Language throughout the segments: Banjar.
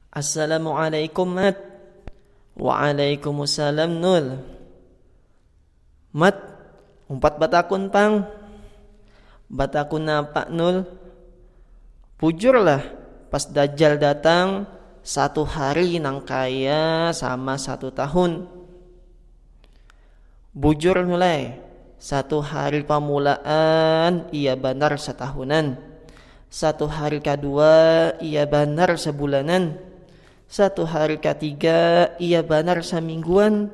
Assalamualaikum Mat Waalaikumsalam Nul Mat umpat batakun pang Batakun napa Nul Bujur lah pas dajjal datang satu hari nang kaya sama satu tahun. Bujur Nulai, satu hari pamulaan iya banar satahunan, satu hari kadua iya banar sabulanan, satu hari katiga iya banar samingguan,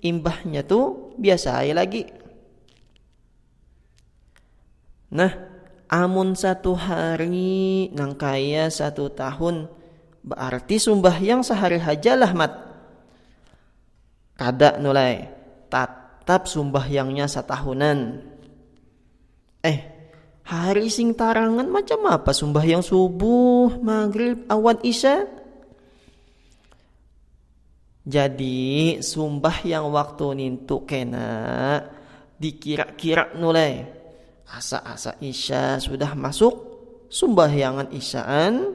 imbahnya tu biasa ai lagi. Nah, amun satu hari nangkaya satu tahun, baarti sumbahyang sahari haja lah Mat. kada nu lai tatap sumbahyangnya satahunan eh hari sing tarangan macam apa sumbahyang subuh magrib awan isya jadi sumbahyang waktu nintu kena dikira-kira nu lai asa-asa isya sudah masuk sumbahyangan isyaan